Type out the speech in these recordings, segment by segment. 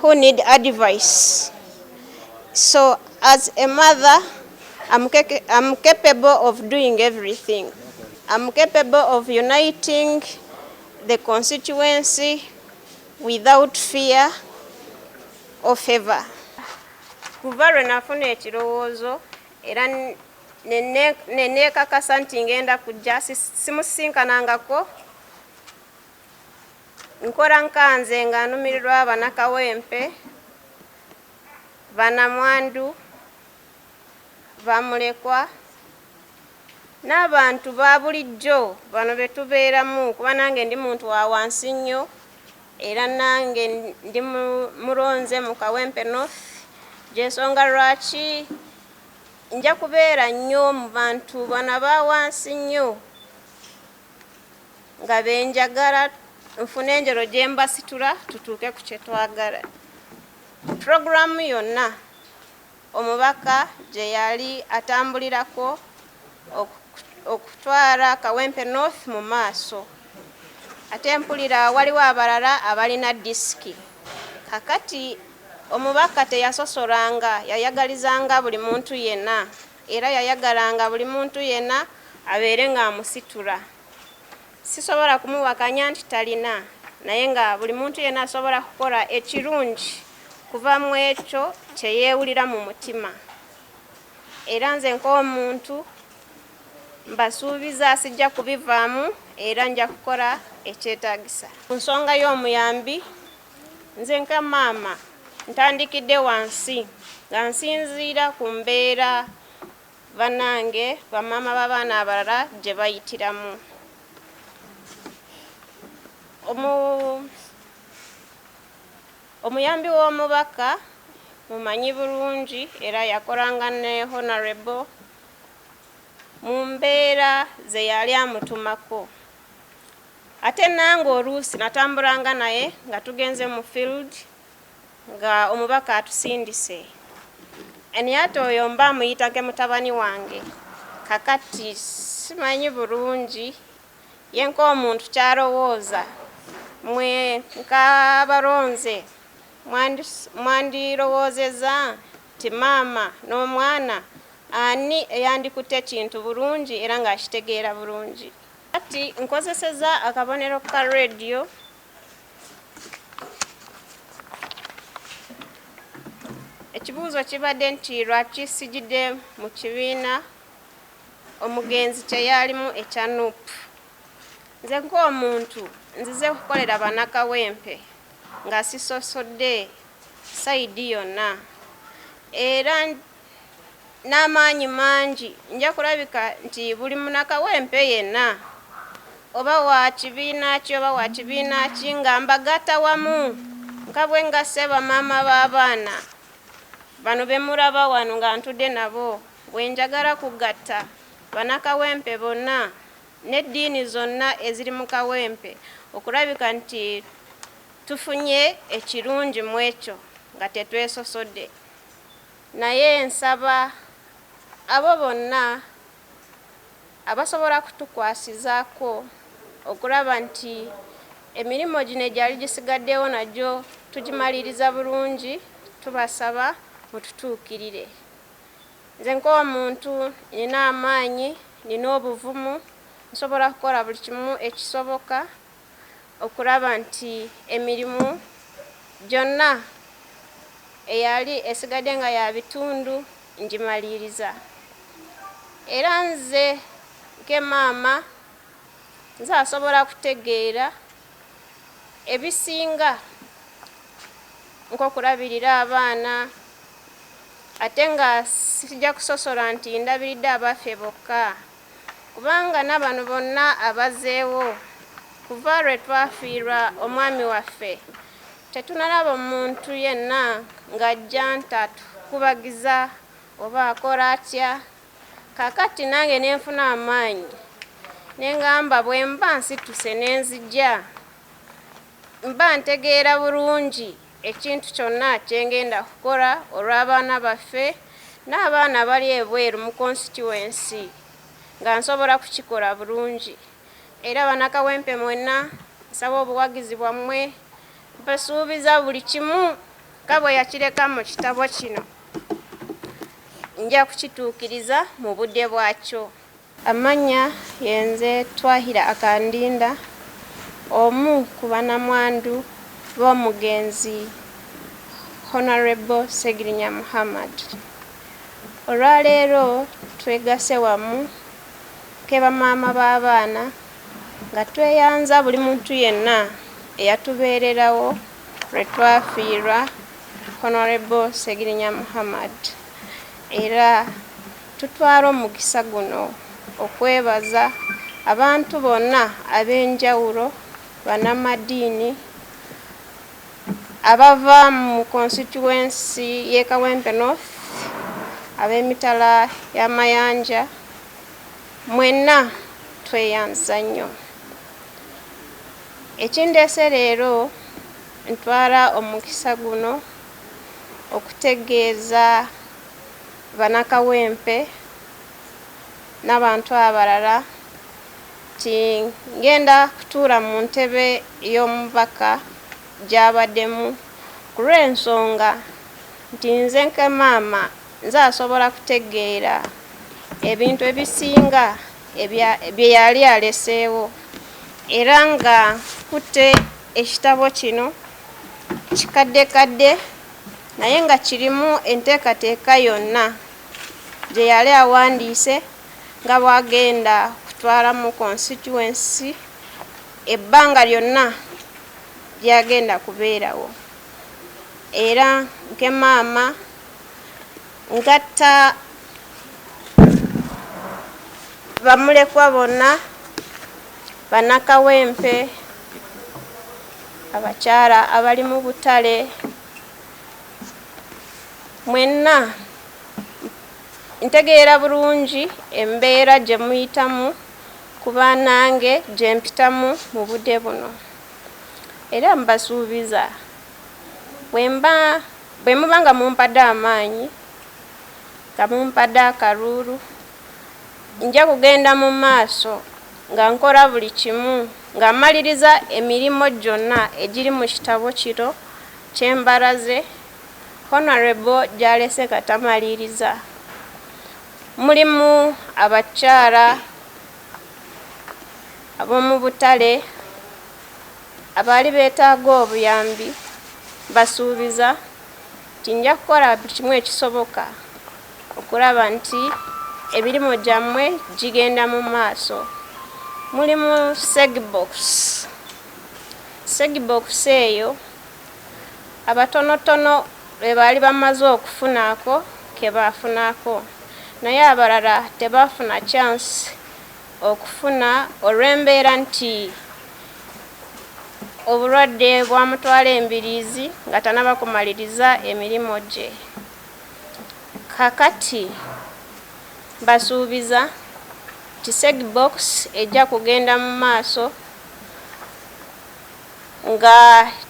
who need advice so as a mother I'm, I'm capable of doing everything I'm capable of uniting the constituency without fear or favor kuva lwe nafuna ekirowoozo era neneekakasa nti ngenda kujja simusisinkanangako Nkora nka nze nga numirirwa bana Kawempe, banamwandu, bamulekwa n'abantu babulijjo bano betubeeramu kuba nange ndi muntu wa wansi nnyo era nange ndi mulonze mu Kawempe North gyensonga lwaki nja kubeera nnyo mu bantu bano aba wansi nnyo. nga benjagala nfune enjolo gye mbasitula tutuuke ku kye twagala. Pulogulaamu yonna omubaka gye yali atambulirako okutwala Kawempe North mu maaso ate mpulira waliwo abalala abalina disiki. Kakati omubaka teyasosolanga yayagalizanga buli muntu yenna. Era yayagalanga buli muntu yenna abeere ng'amusitula. Sisobola kumuwakanya nti talina, naye nga buli muntu yenna asobola kukola ekirungi kuva mu ekyo kye yeewulira mu mutima. Era nze ng'omuntu mbasuubiza sijja kubivaamu era nja kukola ekyetaagisa. Ku nsonga y'omuyambi Nze nga maama ntandikidde wansi nga nsinziira ku mbeera bannange bamaama b'abaana abalala gye bayitiramu. Omu, omuyambi w'omubaka mumanyi bulungi era yakolanga ne Honourable mu mbeera ze yali amutumako. Ate nange oluusi natambulanga naye nga tugenze mu field nga omubaka atusindise any ate oyo mba muyita ke mutabani wange kakati simanyi bulungi ye nk'omuntu kyalowooza mwe nk'abalonze mwandirowoozeza nti maama n'omwana ani eyandikutte ekintu bulungi era ng'akitegeera bulungi. Kati nkozeseza akabonero ka radio. Ekibuuzo kibadde nti lwaki sijidde mu kibiina omugenzi kye yaalimu ekya nup nze ng'omuntu nzize kukolera banakawempe nga sisosodde sayidi yonna era n'amaanyi mangi nja kulabika nti buli munakawempe yenna oba wa kibiina ki oba wa kibiina ki nga mbagatta wamu nga bwe ngasse bamaama b'abaana bano be mulaba wano nga ntudde nabo bwe njagala kugatta banakawempe bonna n'eddiini zonna eziri mu Kawempe okulabika nti tufunye ekirungi mw'ekyo nga tetwesosodde. Naye nsaba abo bonna abasobola kutukwasizaako okulaba nti emirimu gino egyali gisigaddewo nagyo tugimaliriza bulungi tubasaba mututuukirire. Nze ng'omuntu nnina amaanyi, nnina obuvumu, nsobola kukola buli kimu ekisoboka. okulaba nti emirimu gyonna eyali esigadde nga ya bitundu ngimaliriza era nze nke maama nze asobola kutegeera ebisinga nk'okulabirira abaana ate nga sijja kusosola nti ndabiridde abaffe bokka. Kubanga nabano bonna abazeewo kuva lwe twafiirwa omwami waffe tetunalaba muntu yenna ng'ajja ntatu kubagiza oba akora atya kakati nange nenfuna amaanyi nengamba bwemba nsituse nenzija Mba ntegeera bulungi ekintu kyonna kye ngenda okukola olw'abaana baffe n'abaana abali ebweru mu konsituwensi nga nsobola kukikola bulungi era Bannakawempe mwenna nsaba obuwagizi bwammwe. Mbasuubiza buli kimu nga bwe yakireka mu kitabo kino nja kukituukiriza mu budde bwakyo. Amannya yenze Twahira Akandinda omu ku banamwandu b'omugenzi Honourable Ssegirinya Muhammad. Olwaleero twegase wamu keba maama b'abaana nga tweyanza buli muntu yenna eyatubeererawo lwe twafiirwa Honourable Ssegirinya Muhammad era. Tutwala omukisa guno okwebaza abantu bonna ab'enjawulo, bannamadiini, abava mu konsituwensi y'e Kawempe North, ab'emitala y'amayanja, mwenna tweyanza nnyo. Ekindeese leero ntwala omukisa guno okutegeeza. bana Kawempe nabantu abalala nti ngenda kutuula mu ntebe y'omubaka gyabademu kulwensonga nti nze nka maama nze asobola kutegeera ebintu ebisinga byeyali aleseewo era nga nkutte ekitabo kino kikaddekadde. naye nga kirimu enteekateeka yonna gye yali awandiise nga bw'agenda kutwalamu konsituwensi ebbanga lyonna ly'agenda kubeerawo era Nkemaama Ngatta bamulekwa bonna, bannakawempe, abakyala abali mu butale, mwenna ntegeera bulungi embeera gye muyitamu kuba nange gye mpitamu mu budde buno era mbasuubiza Bwemba, bwe muba nga mumpadde amaanyi, nga mumpadde akaluulu, nja kugenda mu maaso nga nkola buli kimu, nga mmaliriza emirimu gyonna egiri mu kitabo kino kye mbalaze, Honourable gy'alese nga tamaliriza. Mulimu abakyala ab'omu butale. Abaali beetaaga obuyambi mbasuubiza nti nja kukola buli kimu ekisoboka okulaba nti emirimu gyammwe gigenda mu maaso. Mulimu segibokisi. Segibokisi eyo abatonotono be baali bamaze okufunaako ke baafunako naye abalala tebaafuna kyansi okufuna olw'embeera nti obulwadde bwamutwala embiriizi nga tanaba kumaliriza emirimu gye kakati basuubiza nti Segbox ejja kugenda mu maaso nga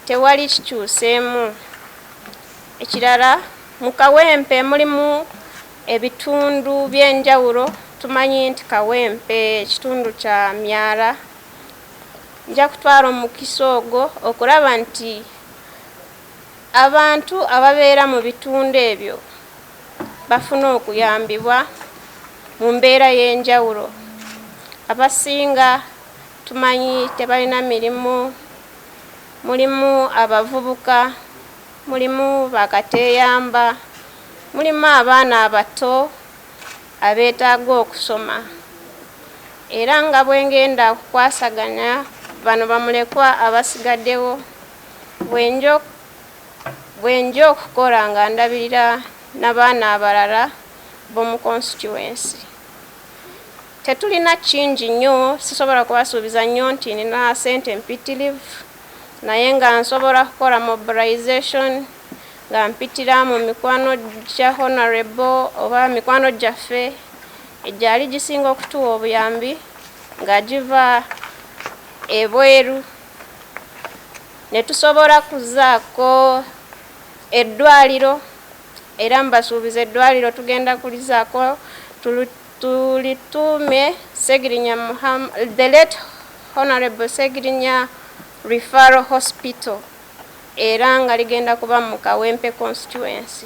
tewali kikyuseemu. Ekirala mu Kawempe mulimu Ebitundu by'enjawulo tumanyi nti Kawempe kitundu kya myala. Nja kutwala omukisa ogwo okulaba nti abantu ababeera mu bitundu ebyo bafuna okuyambibwa mu mbeera y'enjawulo. Abasinga tumanyi tebalina mirimu, mulimu abavubuka. Mulimu ba kateeyamba, mulimu abaana abato abeetaaga okusoma era nga bwe ng'enda okukwasaganya bano bamulekwa abasigaddewo bwe nja okukola nga ndabirira na baana abalala b'omu Konsituwensi. Tetulina kingi nnyo, sisobola kubasuubiza nnyo nti nnina ssente mpitirivu. naye nga nsobola kukola mobilization nga mpitira mu mikwano gya Honorable oba mikwano gyaffe egyali gisinga okutuwa obuyambi nga giva ebweru ne tusobola kuzaako eddwaliro era mbasuubiza eddwaliro tugenda kulizaako Tulituume Ssegirinya Muhammad, the late Honourable Ssegirinya Referral Hospital era nga ligenda kuba mu Kawempe Constituency.